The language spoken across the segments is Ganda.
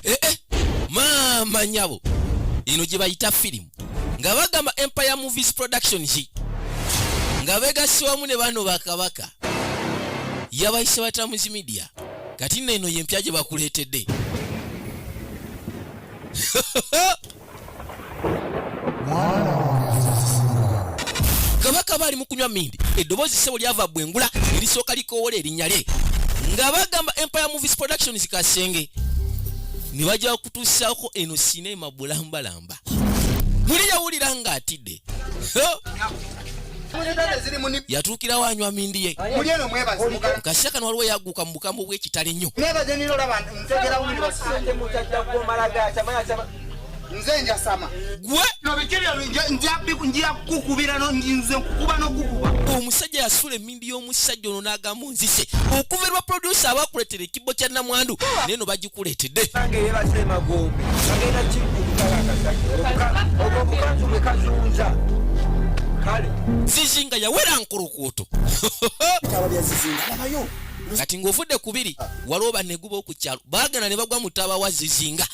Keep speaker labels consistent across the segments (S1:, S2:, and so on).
S1: eh, eh, maama nyabo eno gye bayita firimu nga bagamba empire movies production ki nga begassi wamu ne bano bakabaka yabayise batamuzi midia kati nno eno yempya gye bakuleetedde kabaka baali mu kunywa mindi eddoboozi ssebo lyava bwengula erisooka likoowola erinnya lye nga bagamba empire movies productions kasenge ne bajja kutuusaako eno sineema bulambalamba muli yawulira ng'atidde yatuukirawo anywa mindi ye mukasya kano waliwo yagguka mu bukambwe bw'ekitale nnyo
S2: nze njasama gwe nobikebyo njakukubira nze nkukuba nokukuba omusajja yasula
S1: ennyimbi y'omusajja ono n'agamba onzise okuva lwa producer abakuleetera ekibbo kya namwandu naye no bagikuleetedde zizinga yawera nkulukuuto kati ng'ovudde ku biri waliwo baneguba oku kyalo baagenda ne bagwa mu taaba wa zizinga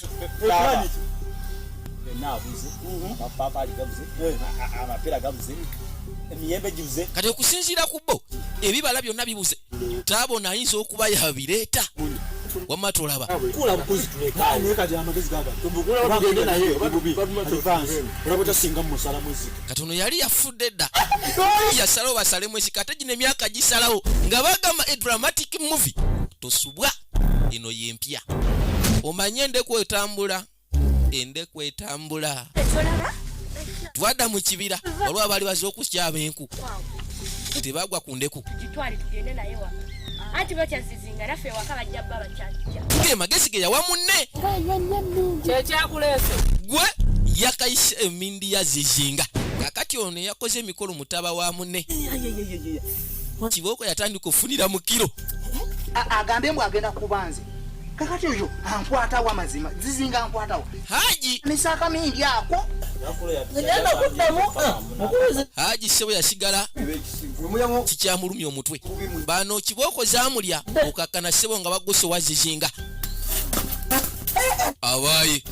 S1: emiyembe gibuze kati okusinziira ku bo ebibala byonna bibuze taabona ayinza okuba yabireeta wamma tulaba kula bukuzi tuleka naye kati amagezi gaga tubukula bagende naye obubi advance olaba tasinga musala muziki kati ono yali yafudde dda yasalawo basale mwesika ate gino emyaka gisalawo nga bagamba a dramatic movie tosubwa eno yempya omanye endeku etambula ende kwetambula twada mu kibira olwa baali baze okusyaba enku tebagwa ku ndeku ge magezi ge yawa munne gwe yakayise emindi ya zizinga kakati ono yakoze emikolo mutaba wa munne kibooko yatandika okufunira mu kiro agambe
S2: mbu agenda kubanze kakati oyo ankwatawo amazima zizinga ankwatawo haji misaka
S1: mingi
S2: ako egenda kuddamu
S1: mukubizi haji sebo yasigala kikyamulumya omutwe bano kibooko zamulya okakkana sebo nga baguse owa zizinga abayi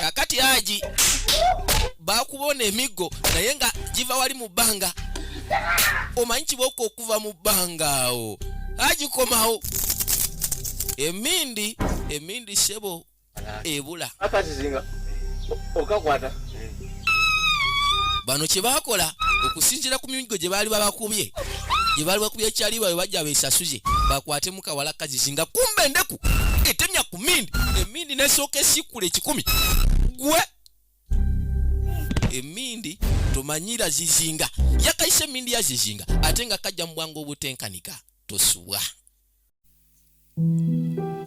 S1: kakati haji bakubona emiggo naye nga giva wali mu bbanga omanyi kibooko okuva mu bbanga awo agikomawo emindi emindi sebo ebula okakwata bano kyebakola okusinzira ku migo gye baali babakubye gye baali bakubye ekyali bawe bajja besasuze bakwate mukawala kazizi nga kumba endeku etemya ku mindi emindi nesooka esikkula ekikumi gwe emindi tomanyira zizinga yakaisa emindi ya zizinga ate nga kajja mu bwangu obutenkanika tosubwa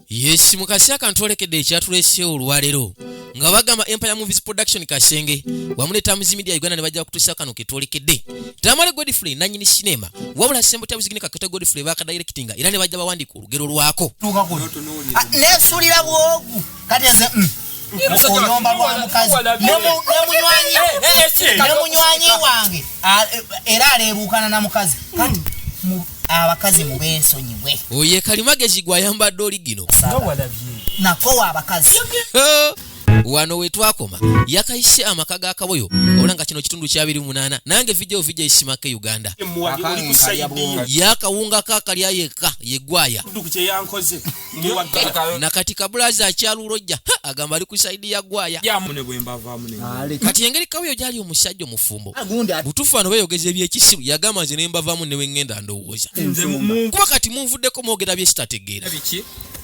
S1: yesi mukasi akantu olekedde ekyatulese olwaleero nga bagamba empire movies production kasenge wamuleeta muzimedia uganda ne bajja kutuusa kano ketwolekedde tamale godfrey nanyini sinema wabula sembo tabuzigine kakata godfrey bakadairekitinga era ne bajja bawandiika olugero lwako
S2: nesulira bwogu kati nze mm, oyomba lwa mukazi nemunywanyi eh, eh, wange eh, era aleebuukana na mukazi kati mm. abakazi mubensonyiwe oye kalimagezi
S1: gwayambadde oli gino
S2: nakowa abakazi
S1: wano wetwakoma yakayise amaka ga kaboyo ola nga kino kitundu kyabiri munana nange vidio vija isimaka e uganda yakawunga kakalya yekka yegwaya nakati kabulazi akyalulojja agamba ali ku saidi ya gwaya kati engeri kaweyo gyali omusajja omufumbo butufu ano beyogeza ebyekisiru yagamba nze nembavamu newengenda ndowooza kuba kati munvuddeko mwogera byesitategeera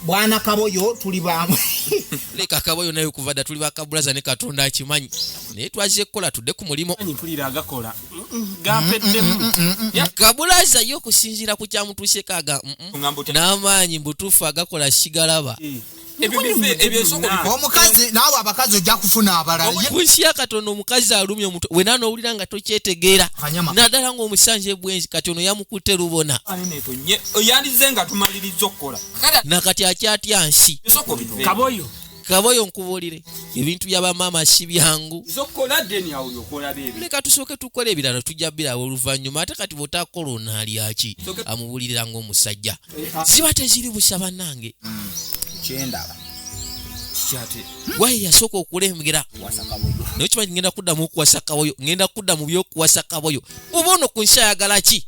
S1: bwana
S2: kaboyo tuli bamu leka kaboyo
S1: naye okuva dda tuli bakabulaza ne katonda akimanyi naye twazze kukola tudde ku mulimu
S3: gampeddemu Ya-
S1: kabulaza ye okusinziira ku kyamutuuseko aga mm, mm, Ngamba otya? n'amaanyi mbutuufu agakola sigalaba Eh, ebyo bife- ebyo ensoko Nina. bikwe.
S2: omukazi naawe abakazi ojja kufuna abalala Ye- ku nsi ya katonda
S1: omukazi alumya omutwe wena n'owulira nga tokyetegeera Kanyama. naddala ng'omusanja ebwenzi kati ono yamukutte lubona Ani netonye. Yandize
S3: nga tumalirizza okukola kati akyatya
S1: nsi ensoko bife. kaboyo kaboyo nkubuulire ebintu bya bamaama si byangu leka tusooke tukola ebirala tujja birawo oluvannyuma ate kati bwotakola onaalyaki amubuulirira ngaomusajja eh, ah. ziba teziri busa bannange
S2: kyendaba
S3: waye yasooka
S1: okulengera naye
S2: kimanyi ngenda
S1: kuddamu okuwasa kaboyo ngenda kudda mu byokuwasa kaboyo oba ono ku nsi ayagala ki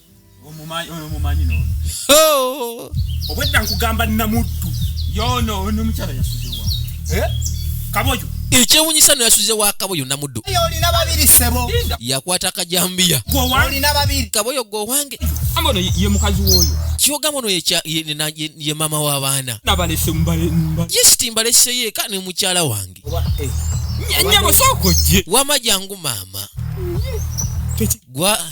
S3: obwedda nkugamba namuddu yono nomukyala yasuzewa eh? kaboyo ekyewunyisa
S1: no yasuze wa kaboyo namuddu
S2: yakwata akajambiya kaboyo gwe owange
S3: kyogamba ono
S1: ye mama w'abaana
S3: yesiti mbaleseyo
S1: eka ne mukyala wange
S3: eh. wama jangu
S1: maama gwa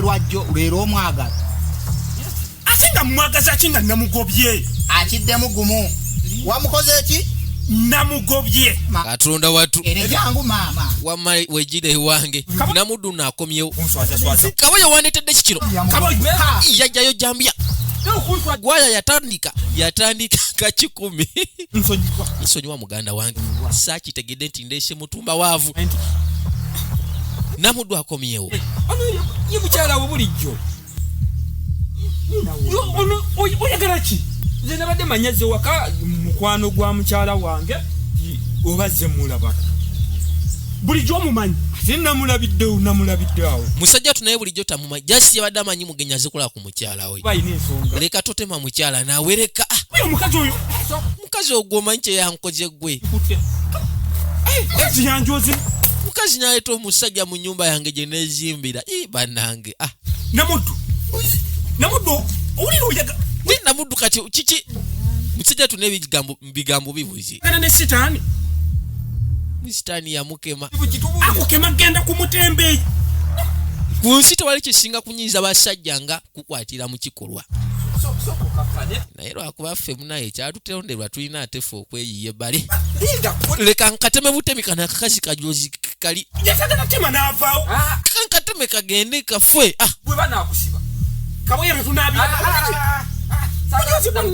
S2: lwajjo lwera omwagala
S3: ate nga mumwagaza ki nga namugobye akiddemu gumu
S2: wamukoze eki namugobye
S3: katonda
S1: watu
S2: wamma wejira
S1: ewange namuddu nakomyewo kaba
S3: yawandetedde
S1: kikiro
S3: yajjayo
S1: jambya gwaya yatandika yatandika kakikumi
S3: nsonyiwa muganda
S1: wange sakitegedde nti ndesemu mutumba waavu namuddu akomyewo eh,
S3: ye mukyala wo bulijjo oyagala ki nze nabadde manyaze waka mukwano gwa mukyala wange oba ze mulabaka bulijjo omumanyi ate namulabiddewo namulabiddeawo musajja tunaye bulijjo
S1: tamumanyi jasi yabadde amanyi mugenyi azikulaku mukyala we leka
S3: totema mukyala
S1: nawe leka ah!
S3: mukazi ogwo
S1: omanyi kyeyankoze gwe
S3: mukazi naleeta
S1: omusajja mu nyumba yange gye nezimbira i banange ah!
S3: namuddu namuddu kati
S1: kiki musajja tuna ebigambo mubigambo bibuze kana ne
S3: sitani
S1: sitani yamukema akukema
S3: genda kumutembeyi
S1: ku nsi tewali kisinga kunyiiza basajja nga kukwatira mu kikolwa naye lwakuba ffe munaye kyatutonderwa tulina ate fe okweyiye bale leka nkateme butemi kana akakazi kajozi kali yasagala kutema
S3: n'avaawo ah. kankateme
S1: kagende kafwe ah. bwe banakusiba
S3: kaboye betunabira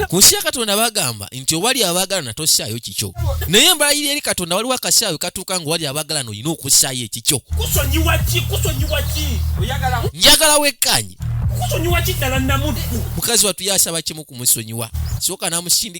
S1: ku nsi ya katonda bagamba nti owali abaagalana tossaayo kikyo naye embalayira eri katonda waliwo akasaayo katuuka nga owali abaagalana olina okussaayo ekikyo
S3: njagala
S1: wekkaanye
S3: mukazi watu yasaba
S1: kimu kumusonyiwa soka namusindika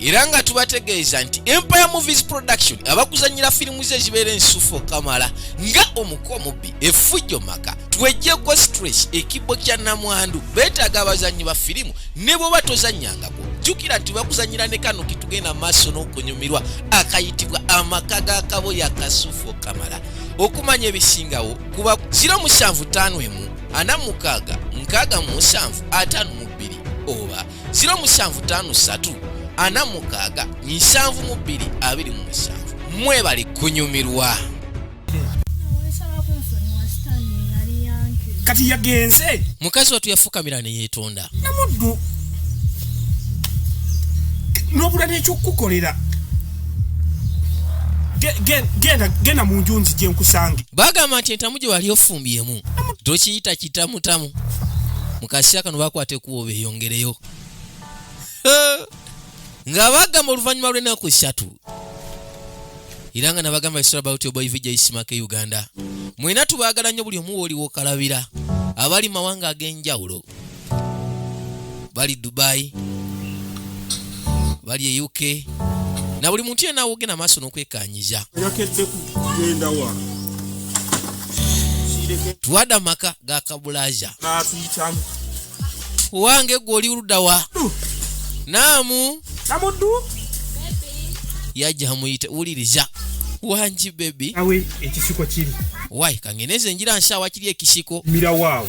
S1: era nga tubategeeza nti empire movies production abakuzanyira firimu ze ezibeera ensufo kamala nga omuko omubbi efujjo maka twejjeko stress ekibbo kya namwandu beetaaga abazannyi ba firimu ne bwoba tozannyangako jjukira nti bakuzanyira ne kano ketugenda maaso n'okunyumirwa akayitibwa amaka ga kabo ya kasufo kamala okumanya ebisingawo kuba 075 emu ana mukaaga nkaaga mu musanvu ataano mu bbiri oba 0753 46 7227 mwebali kunyumirwa
S3: kati yagenze mukazi watu yafukamira
S1: neyetonda namuddu
S3: nobula nekyokukukolera genda mu nju nzije nkusange bagamba nti entamu gye
S1: wali ofumbiyemu tokiyita kitamutamu mukaseera kano bakwata ekubo beyongereyo nga bagamba oluvannyuma lw'ennaku ssatu era nga nabagamba isra about your boy vijay simaka e uganda mwena tubaagala nnyo buli omu wooliwo kalabira abali mawanga ag'enjawulo bali dubai bali e uk na buli muntu yena awogenda maaso n'okwekanyiza tuwade amaka ga kabulaja wange gwe oli ludawa naamu yajja amuyita wuliriza wangi bebi awe ekisiko
S3: kiri wai kangeneze
S1: njira nsawa kiri ekisiko mira waawo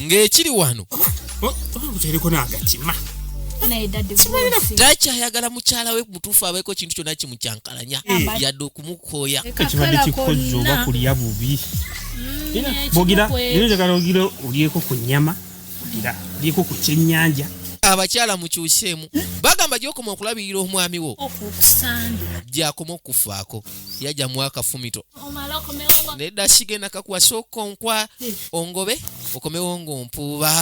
S3: ng'ekiri wano
S1: taki ayagala mukyala we mutuufu abeeko kintu kyonna kimukyankalanya yadde okumukooya ekibadde kikozi
S3: oba kulya bubi mm, bogira era njagala ogira olyeko ku nyama ogira olyeko ku kyennyanja abakyala
S1: mukyuseemu bagamba gyokoma okulabirira omwami wo gyakoma okukufaako yajja mwakafumito nedda kigenda kakuwasa okonkwa ongobe okomewo ng'ompuuba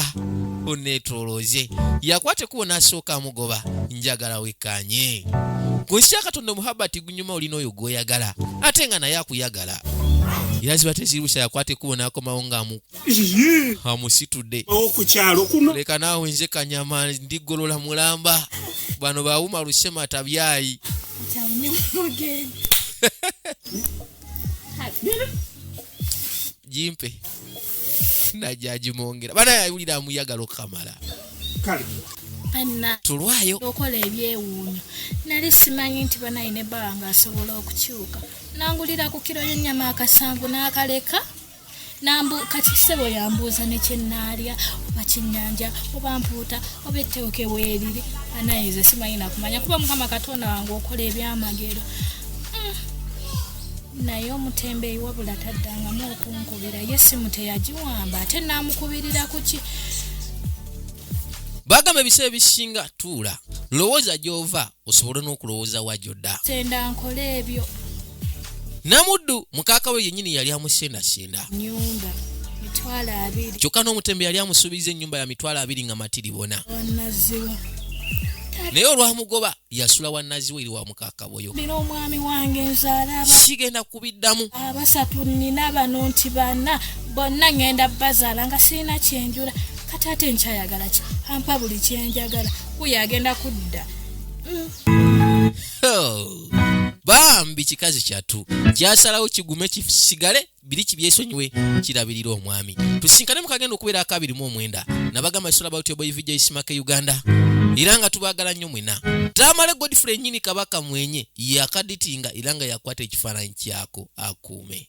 S1: oneetolooze yakwata ekubo n'asooka amugoba njagala wekkanye ku nsi ya katonda omuhabati gunyuma olina oyo gw'oyagala ate nga naye akuyagala era ziba tezirwisa yakwata ekubo n'akomawo ng'amu amusitudde okukyalo kuno
S3: leka naawe nze kanyama
S1: ndigolola mulamba bano bawuma lusema tabyayi jimpe najajimongera bana yawulira amuyagala okukamala
S4: tulwayo okola ebyewuunyo nali simanyi nti banayi ne bawa nga asobola okukyuka nangulira ku kiro y'ennyama akasanvu n'akaleka nambu kati sebo yambuuza nekyenaalya oba kyenyanja oba mpuuta oba etteweke weeriri anayinza simanyi nakumanya kuba mukama katonda wange okola ebyamagero hmm. naye omutembeyi wabula taddangamu okunkubira ye simu teyagiwamba ate namukubirira kuki
S1: bagamba ebiseera ebisinga tuula lowooza gyova osobole n'okulowooza wa gyodda
S4: namuddu
S1: mukaaka we yennyini yali amusendasenda
S4: kyokka n'omutembe yali
S1: amusuubiza ennyumba ya mitwalo abiri nga matiri bona naye olwamugoba yasula wannaziwa eri wa mukaaka boyo
S4: kubiddamu
S1: abasatu nina
S4: bano nti bana bonna ngenda bazaala nga sirina kyenjula kati ate nkyayagala ki ampa buli kyenjagala kuyo agenda kudda mm.
S1: bambi kikazi kyatu kyasalawo kigume kisigale biri kibyesonyiwe kirabirira omwami tusinkane mukagenda okubeera akabirimu omwenda nabagamba isola bautyoboivijaisimake uganda era nga tubagala nnyo ena tamale godfrey nyini kabaka mwenye yakaditinga era nga yakwata ekifaananyi kyako akuume